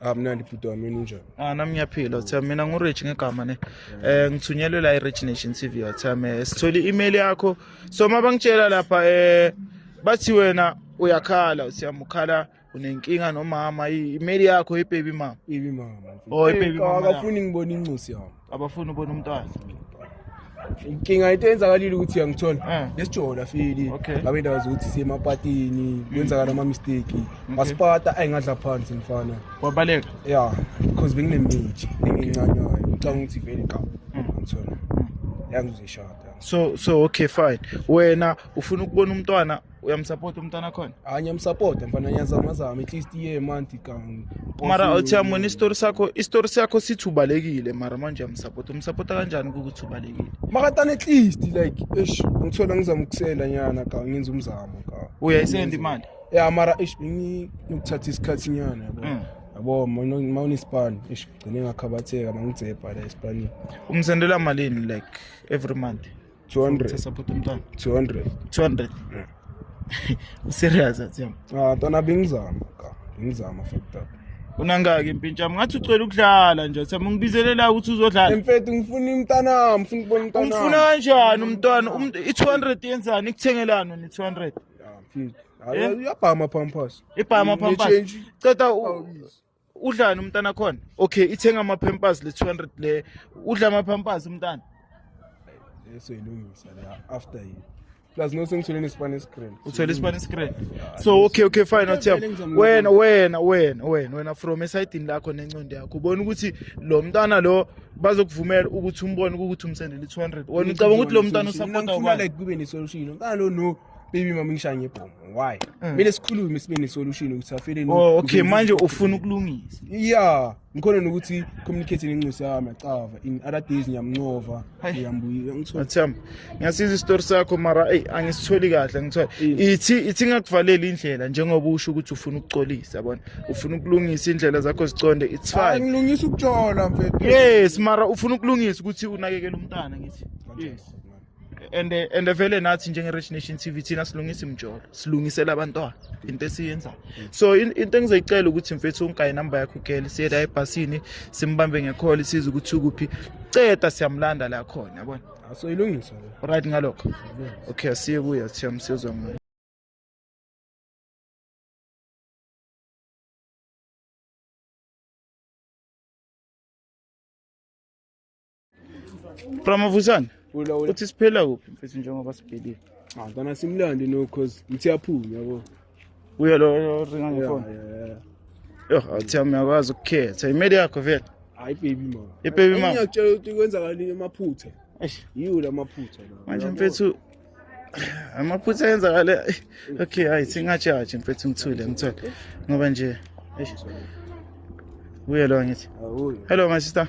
amnandi bhuti wami yini unjani ah nami ngiyaphila uthe mina ngurich ngegama ne eh ngithunyelwe la irich nation tv uthe me sithole i-email yakho so uma bangitshela lapha eh bathi wena uyakhala uthe ukhala unenkinga nomama i-email yakho ibaby mama ibi mama Oh, ibaby mama yakho. akafuni ngibona incosi yami abafuni ubona umntwana inkinga into eyenzakalile ukuthi uyangithola eh. lesijola fili ngabe indawo zokuthi siyemapatini kwenzakala ama-mistake masipata ayingadla phansi mfana wabaleka ya because benginemithi engincanywayo ngicanga ukuthi vele qaba hmm. ngithola hmm. yangizishada so so okay fine wena ufuna ukubona umntwana uyamsapota umntana khona hayi ngiyamsapota mfana ngiyazamazama at least iye emanti kang mara uthi yamona isitori sakho isitori sakho sithi ubalekile mara manje uyamsapota umsapota kanjani ukuthi ubalekile makatana at least like eish ngithola ngizama ukusenda nyana kang ngenza umzamo kang uyayisenda imali ya mara eish ngikuthatha isikhathi nyana yabo mm. yabo ma unespan eish gcine ngakhabatheka mangidzepa la espanini umsendela malini like every month 200 support umntwana 200 200 serious athiyam ah ntwana bengizama ka bengizama fucked up unangaki impintsha ngathi ucela ukudlala nje thema ungibizelela ukuthi uzodlala mfethu ngifuna umntana wami ngifuna ukubona umntana umfuna kanjani umntwana um, i200 yenzani ikuthengelani ni 200 uyabhama pampas ibhama pampas ceda udlani umntana khona okay ithenga ama-pampers le 200 le udla ama-pampers umntana esoyilungisa leya after yini plus no sengithole nesipani escreen uthole isipani screen so okay okay fine athiyam wena wena wena wena wena from esayidini lakho nencondo yakho ubona ukuthi lo mntana lo bazokuvumela ukuthi umbone ukuthi umsendele i-200 wena ucabanga ukuthi lo mntana usapota ubani like kube ne-solution mntana lo no baby mama ngishaye ngebhomu why mm. mina sikhulume sibe nesolution ukuthi afeleni oh okay manje ufuna ukulungisa yeah ngikhona nokuthi communicating inxusi yami acava in other days ngiyamncova ngiyambuya ngithola athamba ngiyasiza isitori sakho mara ey angisitholi kahle ngithola ithi ithi ngakuvalela indlela njengoba usho ukuthi ufuna ukucolisa yabona ufuna ukulungisa indlela zakho ziconde it's fine ngilungisa ukujola mfethu yes mara ufuna ukulungisa ukuthi unakekele umntana ngithi yes and and vele nathi njenge Rich Nation TV thina silungisa imjolo silungisela abantwana into esiyenzayo so into engizoyicela ukuthi mfethu ungayi number yakho girl siyela ebhasini simbambe ngekholi siza ukuthi ukuphi ceda siyamlanda la khona yabona ah, so ilungisa right ngalokho okay asiye kuya siyamsizwa ngayo Ramavusana Ula ula. uthi siphela kuphi mfethu njengoba sibhedile. Ah, ngana simlande no cause mthi aphuma yabo. Uye lo lo ringa Yeah, ngefoni. yeah, yeah. Yoh athi uyakwazi ukukhetha imeli yakho vele. Hayi baby mama. Ibaby mama. Ngiyakutshela ukuthi kwenzakalile amaphutha. Eish. Yiwo lamaphutha lawa. Manje Yabo. mfethu amaphutha ayenzakale okay hayi singajaji mfethu ngithule ngithule ngoba nje eish. Uye lo ngithi. Awuyo. Hello my sister.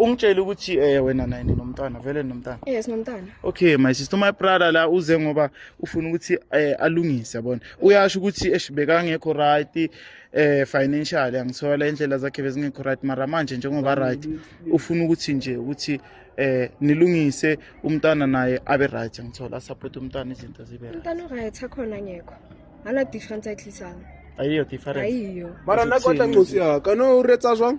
ungitshele ukuthi eh wena naye ninomntana vele nomntana eh sinomntana okay my sister my brother la uze ngoba ufuna ukuthi eh alungise yabona uyasho ukuthi eshibeka ngekho right eh financial angithola indlela zakhe bezingekho right mara manje njengoba right ufuna ukuthi nje ukuthi eh nilungise umntana naye abe right ngithola support umntana izinto zibe right umntana right akhona ngekho ana difference ayihlisanga ayiyo difference ayiyo mara nakotla nkosi ya kana uretsa zwang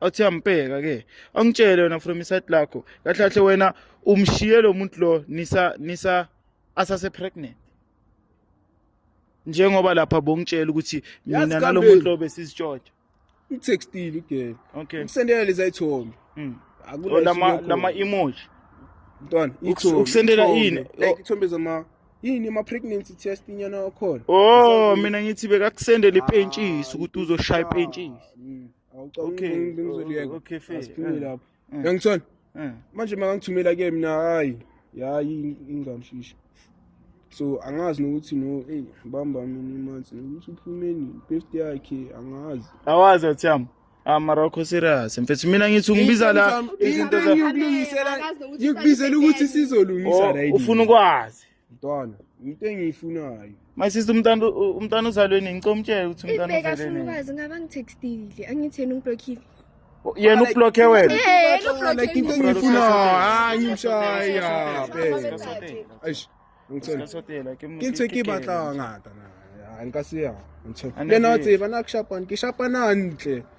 athi ambheka ke angitshele wena from iside lakho kahle kahle wena umshiye lo muntu lo nisa nisa asase pregnant njengoba lapha bongitshela ukuthi mina nalo muntu lo besizitshotsha utextile ugel okay ukusendela leza ithombe mm. oh, lama lama emoji mntwana ukusendela yini like ithombe zama yini ama pregnancy test inyana okhona oh mina ngithi bekakusendela ipentshisi ukuthi uzoshaya ipentshisi mm. yangithona manje makangithumela ke mina hayi yayi ingamshishi so angazi nokuthi no eyi bamba mina imanzi nokuthi uphumeni i-birthday yakhe angazi awazi athiyam amarokho ah, serious mfethu mina ngithi ungibiza la izinto ngikubizela ukuthi sizolungisa oh, right ufuna ukwazi mntwana into engiyifunayo my sister umntana umntana uzalwe nini ngicela umtshele ukuthi umntana uzalwe nini ibeka funa ukwazi ngaba ngitextile angitheni ungiblockile yena ublokhe wena like into engiyifuna hayi ngimshaya eish ngicela ke ntse ke batla ngata na nka se ya ntsho le na tseba na ke shapana ke shapana ntle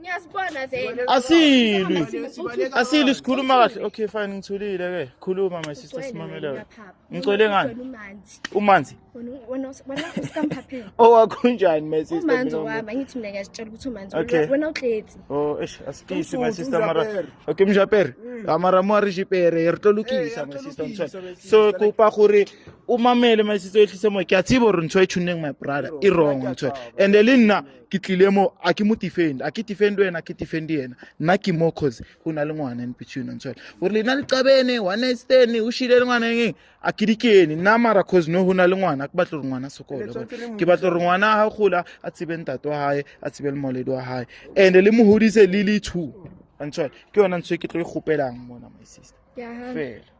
Ngiyasibona then. Asilwi. Asilwi sikhuluma kahle. Okay fine ngithulile ke. Khuluma my sister simamelayo. Ngicwele ngani? Umanzi. Wena wena usikamphaphe. Owakho njani my sister? Umanzi wami angithi mina ngiyazitshela ukuthi umanzi wena uhlezi. Oh eish asikisi my sister mara. Okay mjapere. Mm. Amara mo ari jipere re tlo lokisa eh, my sister mtshwa. So kupa gore umamele my sister ehlise mo ke a tsibo re ntshwa e tshuneng my brother. I wrong mtshwa. And le nna ke tlile mo a ke mo defend a ke defend wena ke defend yena nna ke mo cause go na le ngwana in between and so gore lena le qabene one stene o shile le ngwana eng a ke dikene nna mara cause no go na le ngwana ke batlo gore ngwana sokole ke batlo gore ngwana a ga gola a tsebe ntate wa gae a tsebe le moledi wa gae and le mo godise le le two and so ke yona ntse ke tlo e gopelang mona my sister fela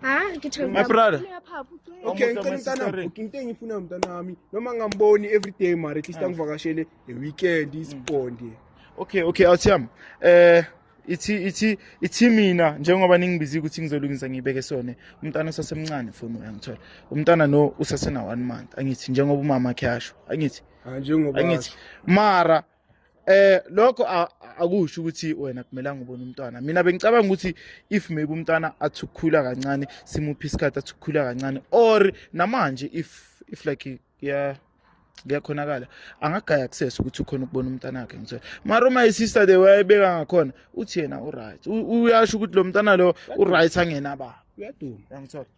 hayi ngithe My brother. okay Omuhle ngicela mtanami masisere. booking into engiyifuna mntanami noma ngamboni every day mara at least angivakashele the weekend isibonde okay okay awuthiyami eh ithi ithi ithi mina njengoba ningibizi ukuthi ngizolungisa ngibeke sone umntana usasemncane foni uyangithola umntana no usasena one month angithi njengoba umama khe asho angithi hayi njengoba angithi mara eh lokho akusho ukuthi wena kumelanga ubone umntwana mina bengicabanga ukuthi if maybe umntwana athi ukukhula kancane simuphi isikhathi athi ukukhula kancane or namanje if if like yeah kuyakhonakala angagaya access ukuthi ukhona ukubona umntana wakhe ngithola mara uma isister the way ayibeka ngakhona uthi yena uright uyasho ukuthi lo mntana lo uright angena baba uyaduma yangithola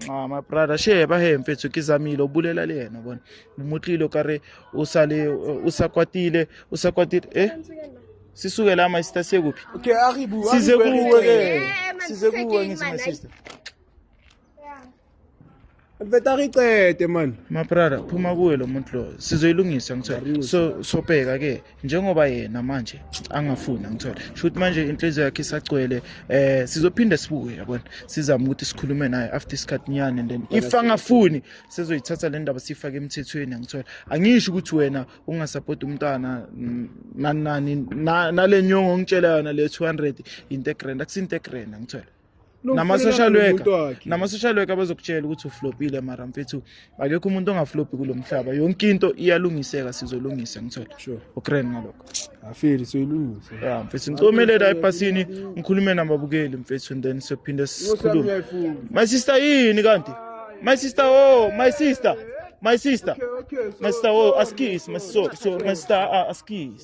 nxa my brother sheba he mfethu ke zamile ubulela le yena bona umutlile o kare o sale o sa kwatile o sa kwatile eh sisuke la my sister sekuphi okay aribu size kuwe ke size kuwe ngithi my sister mfethu aricede man my brother phuma kuwe lo muntu lo sizoyilungisa ngithe so sobheka ke njengoba yena manje angafuni angithole shuthi manje inhliziyo yakhe isagcwele eh sizophinde sibuye yabona sizama ukuthi sikhulume naye after isikhathi nyane and then if angafuni sizoyithatha le ndaba siyifake emthethweni angithole angisho ukuthi wena ungasapoti umntana nani nani nale nyongo ongitshela yona le 200 into egrand akusinte egrand angithole nama-social worker nama-social worker abazokutshela ukuthi uflopile mara mfethu akekho umuntu ongaflopi kulo mhlaba yonke into iyalungiseka sizolungisa ngithola sure. ukren ngalokho afeli soyilungisa ya mfethu ngicomelela ebhasini ngikhulume nababukeli mfethu and then siyophinde sikhulume my sister yini kanti my sister oh my sister my sister my sister oh askis my so so my sister uh, askis